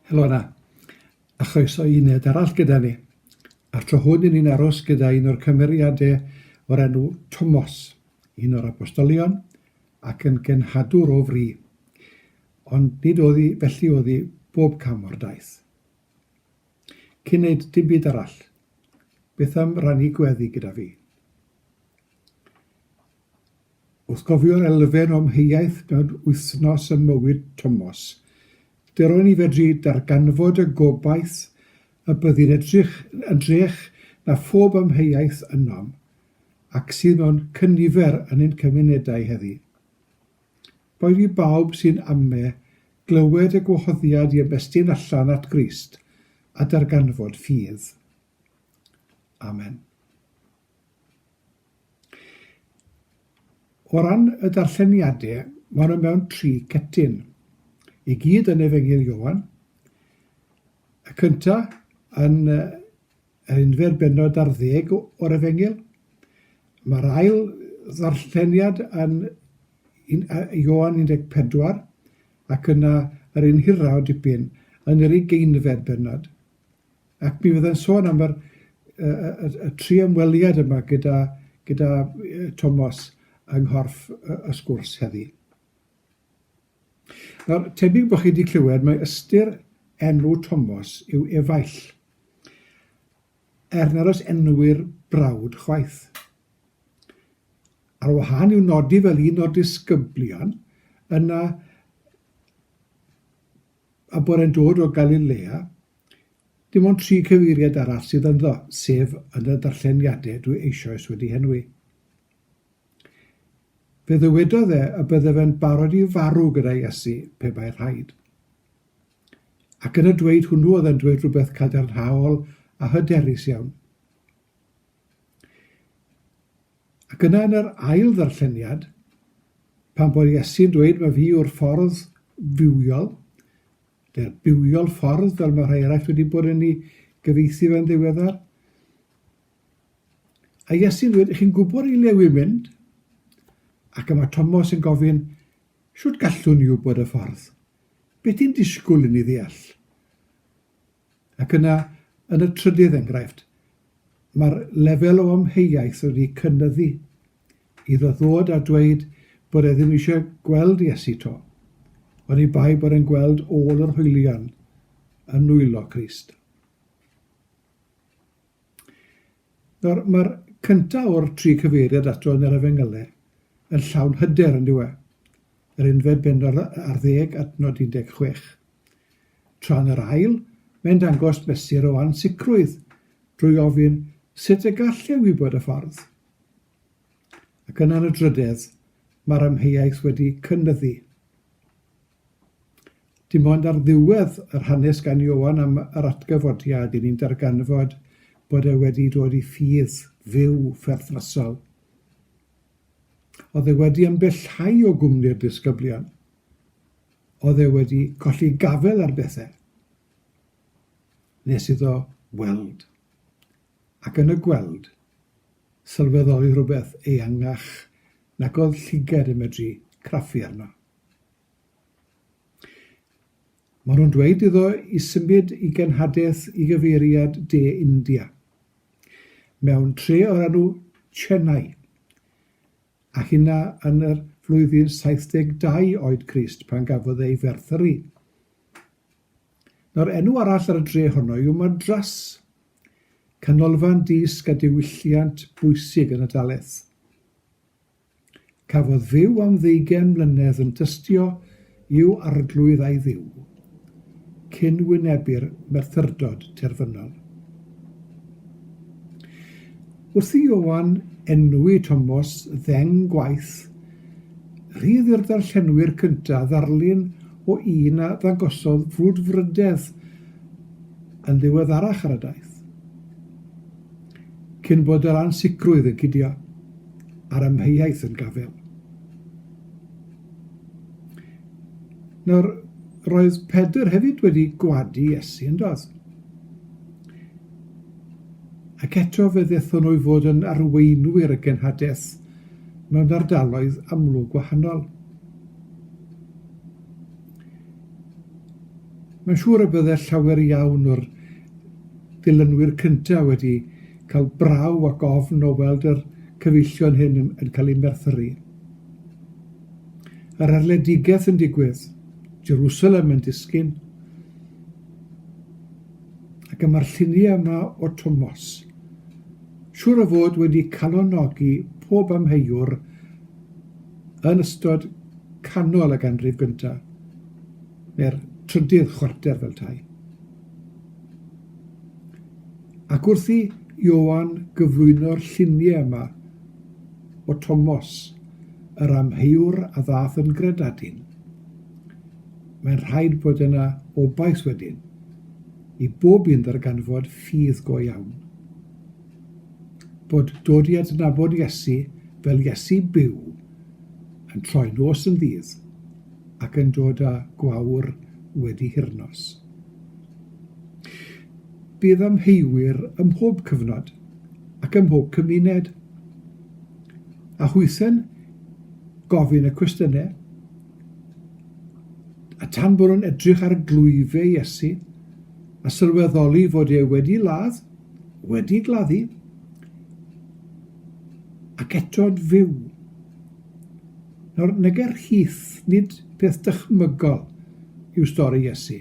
Helo yna, a chroeso i uned arall gyda ni. A'r tro hwn i ni'n aros gyda un o'r cymeriadau o'r enw Tomos, un o'r apostolion ac yn genhadwr o fri. Ond nid oddi, felly oddi bob cam o'r daith. Cyn neud dim byd arall, beth am rannu gweddi gyda fi? Wrth gofio'r elfen o amheuaeth mewn wythnos ym mywyd Tomos, lle ro'n i fedru darganfod y gobaith y byddi'n edrych yn drech na phob amheuaeth ynom, ac sydd mewn cynifer yn ein cymunedau heddi. Boed i bawb sy'n ame glywed y gwahoddiad i ymestyn allan at Grist a darganfod ffydd. Amen. O ran y darlleniadau, maen nhw mewn tri cetyn. I gyd yn Efengyl Ioan. Y cyntaf yn Yr unfed bennod ar ddeg o'r Efengyl. Mae'r ail ddarlleniad yn Ioan 14 ac yna yr un hiraw dipyn yn yr ugeinfed bennod. Ac mi fyddai'n sôn am yr, y, y, y, y tri ymweliad yma gyda, gyda Tomos yng nghorff y, y sgwrs heddi. Nawr, tebyg bod chi wedi clywed mae ystyr enw Tomos yw efaill, er nad oes enw'r brawd chwaith. Ar wahân i'w nodi fel un o'r disgyblion yna a bod e'n dod o Galilea, dim ond tri cyfeiriad arall sydd ynddo, sef yn y darlleniadau dwi eisoes wedi henwi. Fe ddywedodd e y byddaf yn barod i farw gyda Iesu, pe bai'n rhaid. Ac yn y dweud hwnnw oedd e'n dweud rhywbeth cadarnhaol a hyderus iawn. Ac yna yn yr ail ddarlleniad, pan bod Iesu'n dweud mae fi yw'r ffordd fywiol, neu'r bywiol ffordd fel mae rhai eraill wedi bod yn ei gyfeithi fe'n ddiweddar, A Iesu ddweud, chi'n gwybod i le wi'n mynd? Ac yma Tomos yn gofyn, Shwt gallwn i wybod y ffordd? Be ti'n disgwyl i ni ddeall? Ac yna, yn y trydydd enghraifft, mae'r lefel o amheuaeth wedi cynnyddu iddo ddod a dweud bod e ddim eisiau gweld Iesu to, ond i bai bod e'n gweld ôl yr hwylion yn nwylo Crist. Nawr, mae'r cyntaf o'r tri cyfeiriad ato yn yr Efengylau yn llawn hyder, yn dyw e? Yr unfed bennod ar ddeg at nod 16. Tra yn yr ail, mae'n dangos mesur o ansicrwydd drwy ofyn sut y gall e wybod y ffordd? Ac yna yn y drydedd, mae'r amheuaeth wedi cynyddu. Dim ond ar ddiwedd yr hanes gan Ioan am yr atgyfodiad i ni'n darganfod bod e wedi dod i ffydd fyw pherthnasol. Oedd e wedi ymbellhau o gwmni'r disgyblion. Oedd e wedi colli gafel ar bethau. Nes iddo weld. Ac yn y gweld, sylweddoli rhywbeth eangach nag oedd llygad yn medru craffu arno. Maen nhw'n dweud iddo i symud i genhadaeth i gyfeiriad De India, mewn tre o'r enw Chennai, a hynna yn y flwyddyn 72 oed Crist pan gafodd ei ferthyrru. Nawr, enw arall ar y dre honno yw Madras, canolfan dysg a diwylliant bwysig yn y Daleth. Cafodd Dduw am ddeugain mlynedd yn tystio i'w Arglwydd a'i Dduw, cyn wynebu'r merthyrdod terfynol. Wrth i Ioan enwi Tomos ddeng gwaith, rhydd i'r darllenwyr cyntaf ddarlun o un a ddangosodd frwdfrydedd yn ddiweddarach ar y daith. Cyn bod yr ansicrwydd yn cydio a'r amheuaeth yn gafael. Nawr, roedd Pedr hefyd wedi gwadu Iesu, yn doedd? Ac eto fe ddethon nhw i fod yn arweinwyr y genhadaeth mewn ardaloedd amlwg gwahanol. Mae'n siŵr y bydde llawer iawn o'r dilynwyr cyntaf wedi cael braw ac ofn o weld yr cyfeillion hyn yn cael eu merthyru. Yr arledigaeth yn digwydd, Jerusalem yn disgyn, ac y mae'r lluniau yma o Tomos. Siwr o fod wedi calonogi pob amheuwr yn ystod canol y ganrif gyntaf, neu'r trydydd chwarter fel tai. Ac wrth i Ioan gyflwyno'r lluniau yma o Tomos, yr amheuwr a ddaeth yn gredadun, mae'n rhaid bod yna obaith wedyn i bob un ddarganfod ffydd go iawn, bod dod i adnabod Iesu fel Iesu byw yn troi nos yn ddydd. ac yn dod â gwawr wedi hyrnos. Bydd amheuwyr ym mhob cyfnod ac ym mhob cymuned. A hwythen gofyn y cwestiynau, a tan bod nhw'n edrych ar glwyfau Iesu, a sylweddoli fod e wedi ladd, wedi gladdu, ac eto'n fyw. Nawr, neger Heath, nid peth dychmygol yw stori Iesu,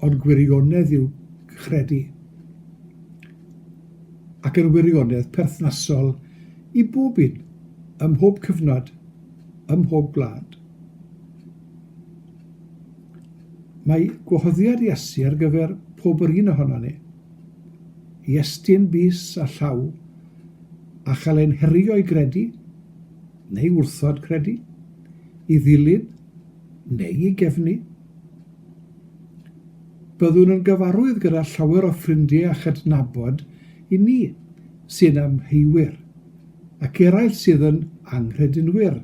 ond gwirionedd yw credu, ac yn wirionedd perthnasol i bob un, ym mhob cyfnod, ym mhob gwlad. Mae gwahoddiad Iesu ar gyfer pob yr un ohono ni, i estyn bys a llaw, a chael ein herio i gredu, neu wrthod credu, i ddilyn neu i gefnu. Byddwn yn gyfarwydd gyda llawer o ffrindiau a chydnabod i ni sy'n amheuwyr ac eraill sydd yn anghredinwyr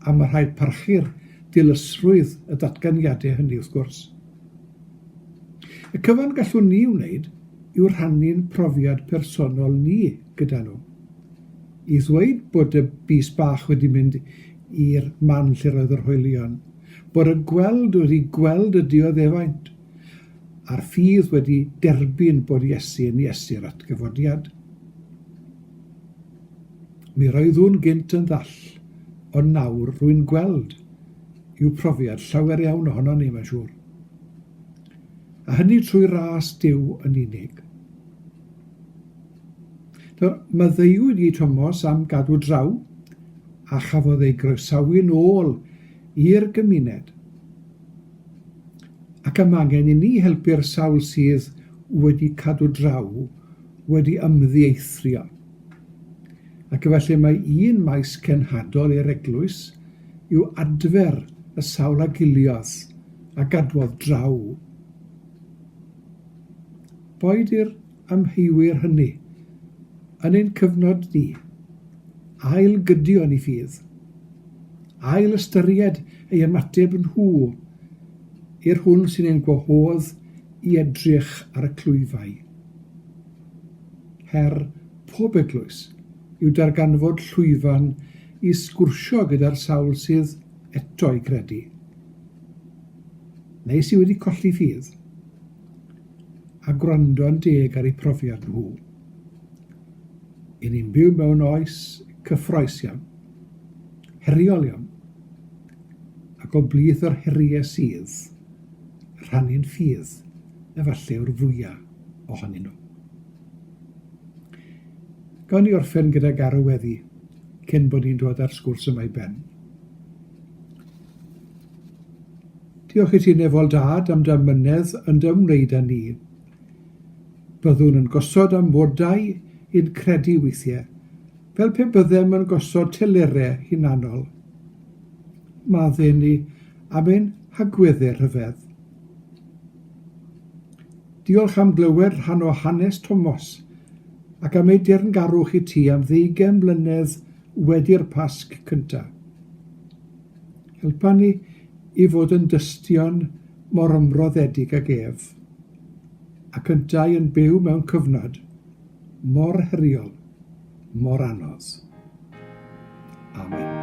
a mae rhaid parchu'r dilysrwydd y datganiadau hynny wrth gwrs. Y cyfan gallwn ni wneud yw rhannu'n profiad personol ni gyda nhw. i ddweud bod y bys bach wedi mynd i'r man lle roedd yr hoelion, bod y gweld wedi gweld y dioddefaint, a'r ffydd wedi derbyn bod Iesu yn Iesu'r atgyfodiad. Mi roeddwn gynt yn ddall, ond nawr rwy'n gweld, yw profiad llawer iawn ohonon ni, mae'n siŵr. A hynny trwy ras Duw yn unig. Maddeuwyd i Tomos am gadw draw a chafodd ei groesawu'n ôl i'r gymuned ac am angen inni helpu'r sawl sydd wedi cadw draw wedi ymddieithrio ac efallai mai un maes cenhadol i'r eglwys yw adfer y sawl a giliodd a gadwodd draw. boed i'r amheuwyr hynny, yn ein cyfnod ni, ail-gydio yn y ffydd, ail-ystyried ei ymateb nhw i'r hwn sy'n ein gwahodd i edrych ar y clwyfau. Her pob eglwys yw darganfod llwyfan i sgwrsio gyda'r sawl sydd eto'i gredu, neu sydd wedi colli ffydd, a gwrando'n deg ar eu profiad nhw. Y'n ni'n byw mewn oes cyffrous iawn, heriol iawn, ac o blith yr heriau sydd, rhannu'n ffydd efallai yw'r fwya' ohonyn nhw. Gawn ni orffen gyda garw weddi cyn bod ni'n dod â'r sgwrs yma i ben. Diolch i ti Nefol Dad am dy amynedd yn dy ymwneud â ni. Byddwn yn gosod amodau i'n credu weithiau, fel pe byddem yn gosod telerau hunanol. Madden ni am ein hagweddau rhyfedd. Diolch am glywed rhan o hanes Tomos ac am ei deyrngarwch i ti am ddeugain mlynedd wedi'r Pasg cyntaf. Helpa ni i fod yn dystion mor ymroddedig ag ef, ac yntau yn byw mewn cyfnod mor heriol, mor anodd. Amen.